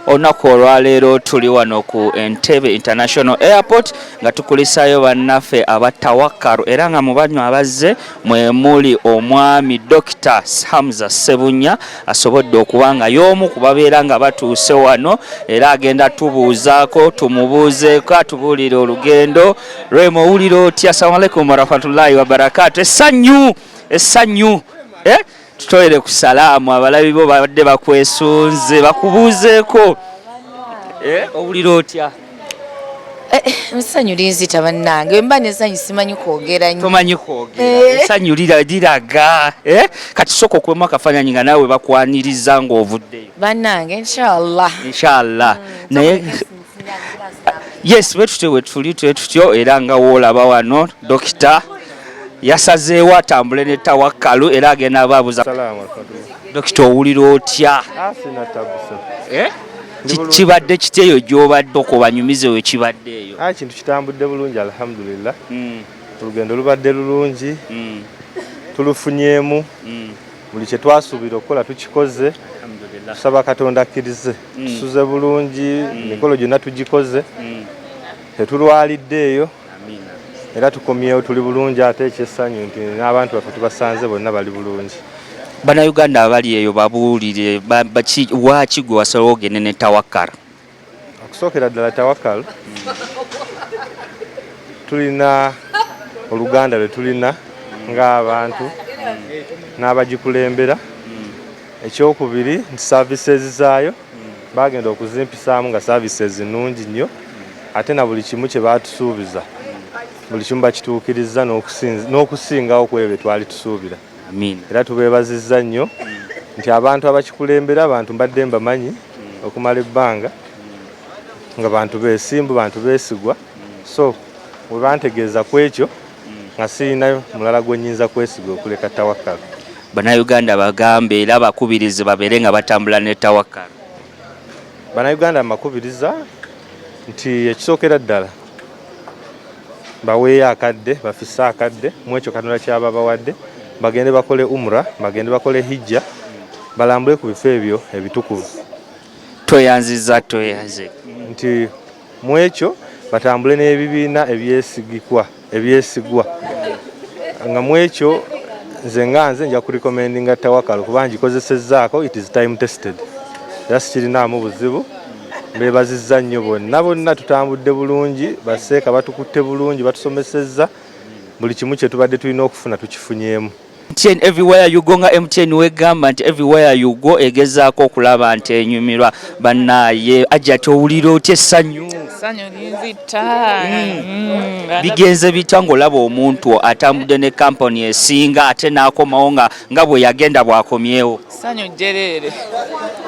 olunaku olwaleero tuli wano ku entebe international airport nga tukulisayo bannaffe aba tawakkaru era nga mu banywa abazze mwe muli omwami dokita hamza sebunya asobodde okuba nga y'omu ku babeera nga batuuse wano era agenda tubuuzaako tumubuuzeeko atubuulire olugendo lwema owulira otya assalamu alaikum warahmatullahi wabarakaatu essanyu essanyu eh? tutoyere ku salaamu abalabi bo babadde bakwesunze bakubuuzeeko eh? owulira otya Eh, eh, esanyu linzita bannange mba nesanyu simanyi kwogera nyo tomanyi kwogera eh. esanyu liraga kati sooka okubamu akafaananyi nga naawe bakwaniriza ng'ovuddeyo bannange inshallah inshallah mm, naye yes wetutyo wetuli twetutyo era nga woolaba wano dokita yasazeewo atambule ne tawakkalu era agenda abaabuza dokita owulira otya ah, kibadde kiti eyo gyobadde okubanyumiza eyo kibadde eyo ah, kintu kitambudde bulungi alhamdulillah hmm. olugendo lubadde lulungi hmm. tulufunyemu hmm. buli kyetwasuubira okukola tukikoze tusaba katonda akkirize tusuze bulungi emikolo gyonna tugikoze tetulwalidde eyo era tukomyewo tuli bulungi ate ekyessanyu nti n'abantu baffe tubasanze bonna bali bulungi bannayuganda abali eyo babuulire waaki gwe wasalawo ogende ne tawakal okusookera ddala tawakal tulina oluganda lwe tulina ng'abantu n'abagikulembera Ekyokubiri nti services zaayo baagenda okuzimpisaamu nga services nnungi nnyo ate na buli kimu kye baatusuubiza buli kimu bakituukirizza n'okusingawo ku ebyo bye twali tusuubira era tubeebazizza nnyo nti abantu abakikulembera abantu mbadde mbamanyi okumala ebbanga nga bantu beesimbu bantu beesigwa so we bantegeeza ku ekyo nga sirina mulala gwe nyinza kwesiga okuleka tawakkal banauganda bagambe era bakubirize babeere nga batambula ne tawakkal banauganda mbakubiriza nti ekisookera ddala baweeyo akadde bafise akadde mwekyo katonda kyaba bawadde bagende bakole umra bagende bakole hijja balambule ku bifo ebyo ebitukuvu tweyanziza tweyanze nti mu ekyo batambule n'ebibiina ebyesigikwa ebyesigwa nga mu ekyo nze nga nze nja kurecommendinga tawakalo kuba ngikozesezzaako it is time tested era sikirinaamu buzibu beebazizza nnyo bonna bonna tutambudde bulungi baseeka batukutte bulungi batusomesezza buli kimu kye tubadde tulina okufuna tukifunyemu MTN everywhere you go nga MTN wegamba nti everywhere you go egezaako okulaba nti enyumirwa bannaaye ajja towulira otya essanyu hmm. hmm. bigenze bitya ng'olaba omuntu atambudde ne kampani esinga ate n'akomawo nga nga bwe yagenda bw'akomyewo Sanyu jjereere.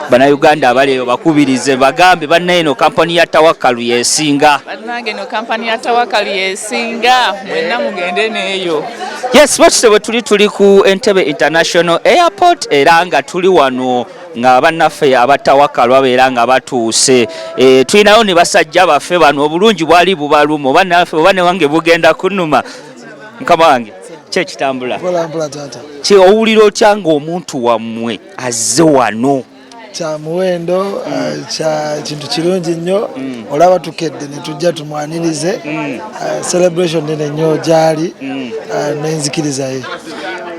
Bannayuganda abali eyo bakubirize bagambe bannaye eno kampani ya Tawakkalu yesinga. Bannange eno kampani ya Tawakkalu yesinga mwenna mugende n'eyo. Yes, bwetuse bwe tuli tuli ku Entebbe International Airport era nga tuli wano nga bannaffe abatawakkalu babeera nga batuuse e, tulinayo ne basajja baffe bano obulungi bwali bubaluma oba newange bugenda kunuma mukama wange ki ekitambula ki owulira otya ng'omuntu wammwe azze wano kya muwendo mm. eh, kya kintu kirungi nnyo mm. olaba tukedde ne tujja tumwanirize mm. eh, celebration nene nnyo gyali eh, n'enzikiriza ye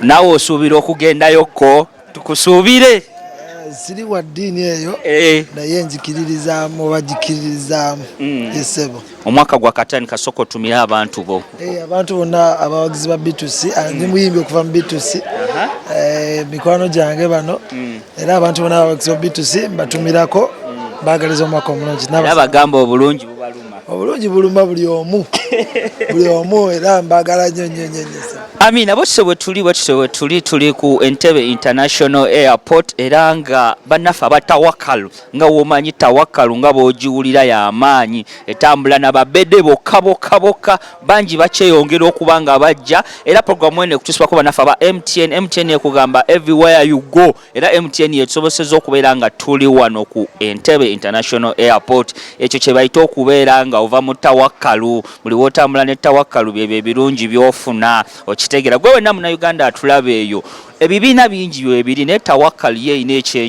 naawe osuubira okugendayokko tukusuubire siri wa ddiini eyo eh. naye njikiririzaamu oba jikiririzaamu hmm. esebo omwaka gwa katani kasoko tumire abantu bo eh, abantu bonna abawagizi ba bitusi ah, hmm. ndi muyimbi okuva mu bitusi eh, mikwano gyange bano hmm. era abantu bonna abawagizi ba bitusi mbatumirako bagaliza omwaka omulungi nabagamba obulungi obulungi buluma buli omu buli omu era mbagala nyo nyo nyo amina bwetutyo bwetuli bwetutyo bwetuli tuli ku entebe international airport era nga bannaffe aba tawakalu nga womanyi tawakalu nga bwogiwulira yamaanyi etambula nababede bokka bokka bokka bangi bakyeyongera okuba nga bajja era programu eno ekutusibako bannaffe aba mtn mtn ekugamba everywhere you go era mtn yetusoboseza okubeera nga tuli wano ku entebe international airport ekyo kyebayita okubeera nga ova mu tawakkalu buli wotambula ne tawakkalu byebyo ebirungi byofuna okitegeera gwe wenna munauganda atulaba eyo ebibiina bingi webiri naye tawakkalu ye erina ekyenyi